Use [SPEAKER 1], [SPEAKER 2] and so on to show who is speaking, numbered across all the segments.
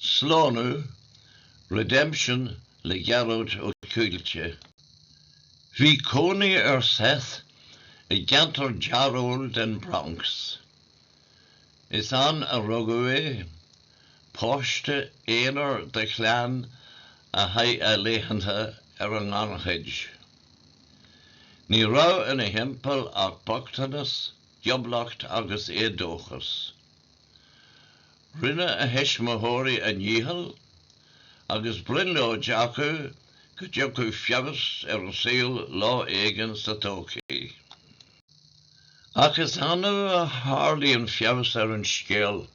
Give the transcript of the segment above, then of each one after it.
[SPEAKER 1] Slánú, Redemption le Gearóid Ó Cúilte. Bhí cónaí ar Seth i gceantar dearóil den Bronx. Is ann a rugadh é, páiste aonair de chlann a chaith a laethanta ar an ngannchuid. Ní raibh ina thimpeall ach bochtanas, gioblacht agus éadóchas. Rinne a thuismitheoirí a ndícheall agus brionglóid acu go dtiocfadh feabhas ar an saol lá éigin sa todhchaí. Ach is annamh a tharlaíonn feabhas ar an scéal.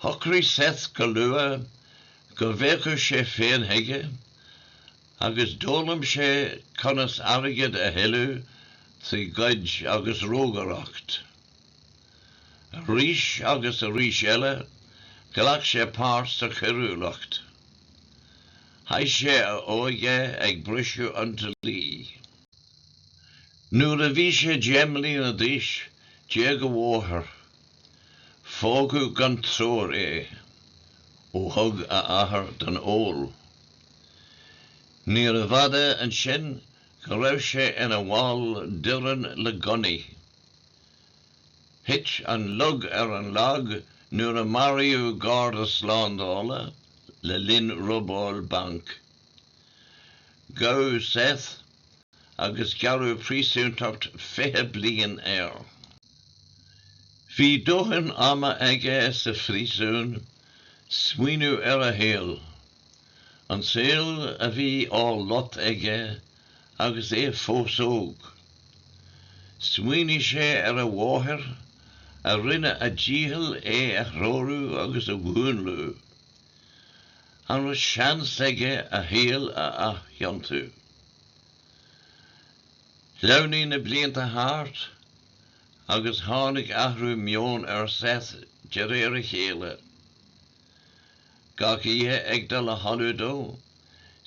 [SPEAKER 1] Shocraigh Seth go luath go bhféachfadh sé féin chuige agus d'fhoghlaim sé conas airgead a thuilleamh trí ghoid agus rógaireacht. Arís agus arís eile, ghlac sé páirt sa choiriúlacht. Chaith sé a óige ag briseadh an dlí. Nuair a bhí sé deich mbliana d'aois, d'éag a mháthair. Fágadh gan treoir é, ó thug a athair don ól. Níorbh fhada ansin go raibh sé ina bhall d'fhoireann le gunnaí. Thit an lug ar an lag nuair a maraíodh garda slándála le linn robáil bainc. Gabhadh Seth agus gearradh príosúntacht 20 bliain air. Bhí dóthain ama aige sa phríosún smaoineamh ar a shaol, an saol a bhí á lot aige agus é fós óg. Smaoinigh sé ar a mháthair, a rinne a dícheall é a threorú agus a mhúnlú. An raibh seans aige a shaol a athiontú? Shleamhnaigh na blianta thart agus tháinig athrú meoin ar Seth de réir a chéile. Gach oíche ag dul a chodladh dó,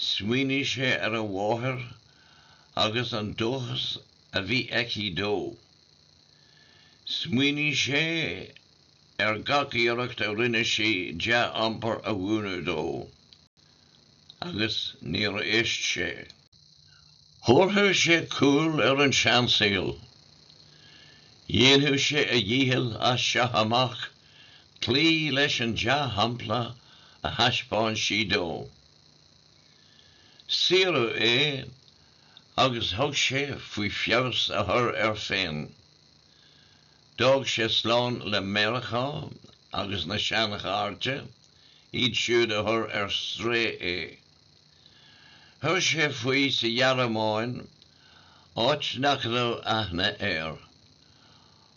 [SPEAKER 1] smaoinigh sé ar a mháthair agus an dóchas a bhí aici dó. Smaoinigh sé ar gach iarracht a rinne sí dea-iompar a mhúineadh dó, agus níor éist sé. Thabharfadh sé cúl ar an seansaol. Dhéanfadh sé a dhícheall as seo amach cloí leis an dea-shampla a thaispeáin sí dó. Saoradh é agus thug sé faoi feabhas a chur air féin. D'fhág sé slán le Meiriceá agus na seanchairde, iad siúd a chuir ar strae é. Chuir sé faoi sa Ghearmáin, áit nach raibh aithne air.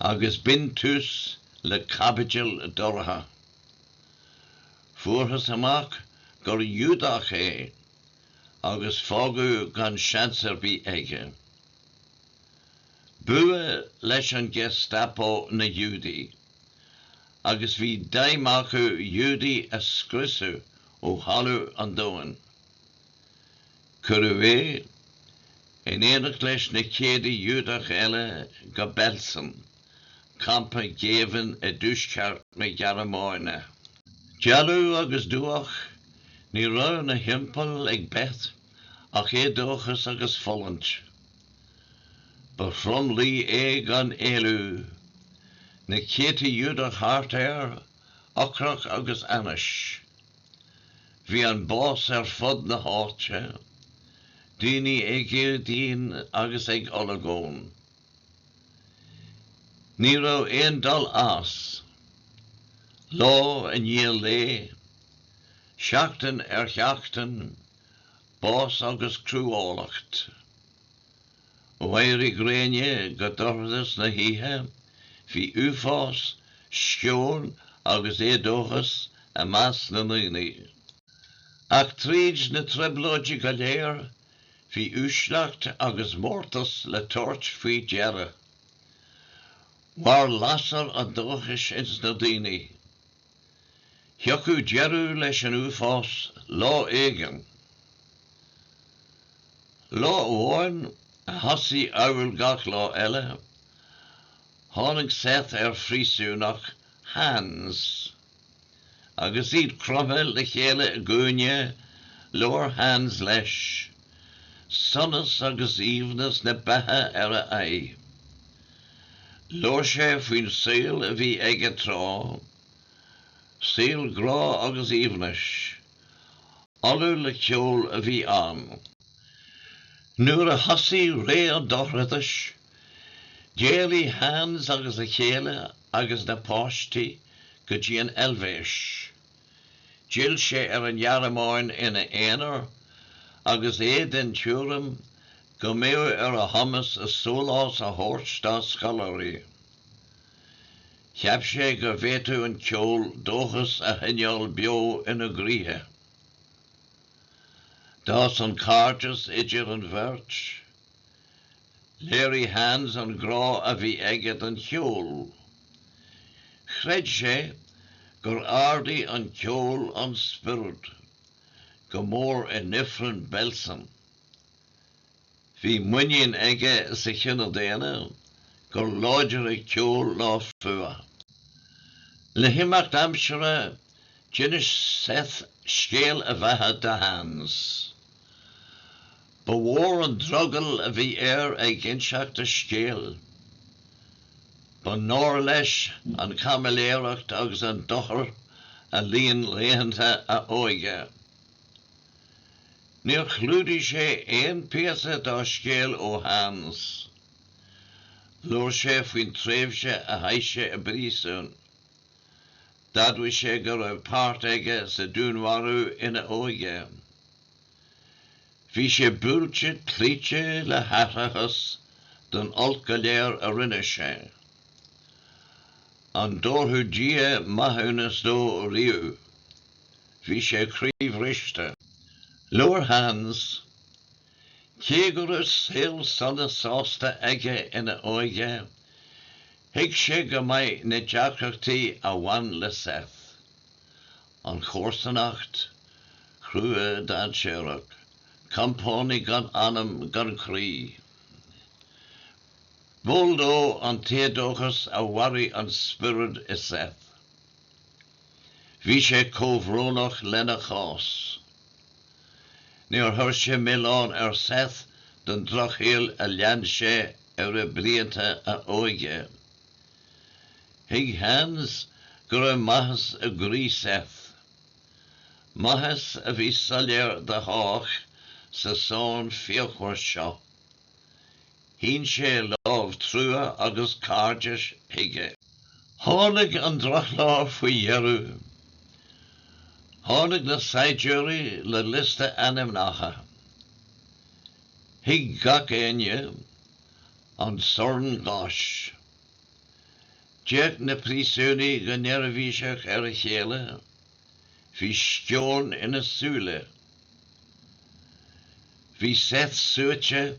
[SPEAKER 1] agus b'in tús le caibidil dorcha. Fuarthas amach gur Ghiúdach é agus fágadh gan seans ar bith aige. B'fhuath leis an Gestapo na Giúdaigh agus bhí d'aidhm acu Giúdaigh a scriosadh ó thalamh an domhain. Cuireadh é, in éineacht leis na céadta Giúdach eile, go Belsen, campa géibhinn i dtuaisceart na Gearmáine. Dealbh agus dubhach ní raibh ina thimpeall ag Seth ach éadóchas agus fulaingt. Ba thromluí é gan éalú. Na céadta Giúdach thart air ocrach agus ainnis. Bhí an bás ar fud na háite, daoine ag éagaoin agus ag olagón. Ní raibh aon dul as. Lá i ndiaidh lae, seachtain ar sheachtain, bás agus cruálacht. Ó éirí gréine go dorchadas na hoíche, bhí uafás, sceon agus éadóchas i measc na ndaoine. Ach tríd na trioblóidí go léir, bhí uaisleacht agus mórtas le tabhairt faoi deara. Mhair lasair an dóchais ins na daoine. Thiocfadh deireadh leis an uafás lá éigin. Lá amháin, a thosaigh amhail gach lá eile, tháinig Seth ar phríosúnach Hans. Agus iad cromtha le chéile i gcúinne, labhair Hans leis. sonas agus aoibhneas na beatha ar a aghaidh. Labhair sé faoin saol a bhí aige tráth, saol grá agus aoibhnis. Ollamh le ceol a bhí ann. Nuair a thosaigh ré an dorchadais, d'éalaigh Hans agus a chéile agus na páistí go dtí an Eilvéis. D'fhill sé ar an Ghearmáin ina aonar, agus é den tuairim go mbeadh ar a chumas sólás a thabhairt dá scoláirí. Cheap sé go bhféadfadh an ceol dóchas a choinneáil beo ina gcroíthe. D'fhás an cairdeas idir an bheirt. Léirigh Hans an grá a bhí aige don cheol. Chreid sé gur ardaigh an ceol an spiorad, go mór in Ifreann Belsen. Bhí muinín aige sa chine daonna gur láidire ceol ná fuath. Le himeacht aimsire, d'inis Seth scéal a bheatha do Hans. Ba mhór an drogall a bhí air ag inseacht a scéil. Ba náir leis an caimiléireacht agus an dochar a líon laethanta a óige. Níor chlúdaigh sé aon phíosa dá scéal ó Hans. Labhair sé faoin tréimhse a chaith sé i bpríosún. D'admhaigh sé go raibh páirt aige sa dúnmharú ina óige. Bhí sé buailte cloíte le haithreachas don olc go léir a rinne sé. An dtabharfadh Dia maithiúnas dó riamh? Bhí sé croíbhriste. Labhair Hans, Cé go raibh saol sona sásta aige ina óige, thuig sé go maith na deacrachtaí a bhain le Seth. an chomharsanacht chrua dhainséarach, compánaigh gan anam gan chroí. B'eol dó an t-éadóchas a mharaigh an spiorad i Seth. Bhí sé comhbhrónach lena chás. Níor chuir sé milleán ar Seth don drochshaol a lean sé ar bhlianta a óige. Thuig Hans go raibh maitheas i gcroí Seth, maitheas a bhí soiléir do chách sa sorn fíochmhar seo. Shín sé lámh trua agus cairdis chuige. Tháinig an drochlá faoi dheireadh. Tháinig na saighdiúirí le liosta ainmneacha. Thuig gach éinne an sorn gáis. D'fhéach na príosúnaigh go neirbhíseach ar a chéile. Bhí sceon ina súile. Bhí Seth suaite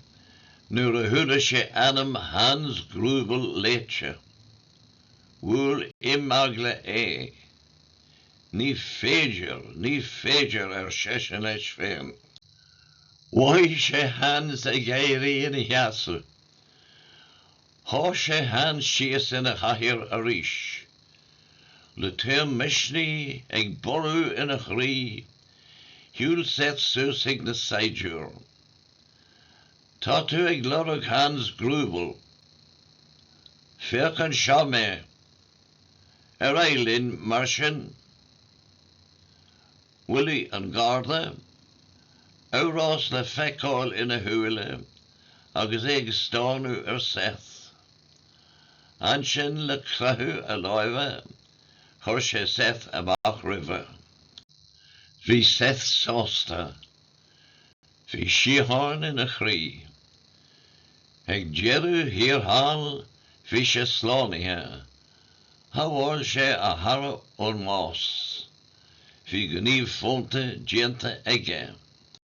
[SPEAKER 1] nuair a chuala sé ainm Hans Greubel léite. Bhuail imeagla é. Ní féidir, ní féidir, ar seisean leis féin. Mhothaigh sé Hans ag éirí ina sheasamh. Sháith sé Hans síos ina chathaoir arís. Le taom misnigh ag borradh ina chroí, shiúil Seth suas chuig na saighdiúir. Tá tú ag lorg Hans Greubel. Féach anseo mé. Ar aghaidh linn, mar sin. Bhailigh an Garda amhrás le feiceáil ina shúile agus é ag stánadh ar Seth. Ansin le croitheadh a láimhe chuir sé Seth amach roimhe. Bhí Seth sásta. Bhí síocháin ina chroí. Ag deireadh thiar thall bhí sé slánaithe Shábháil sé a chara ón mbás. Bhí gníomh fónta déanta aige.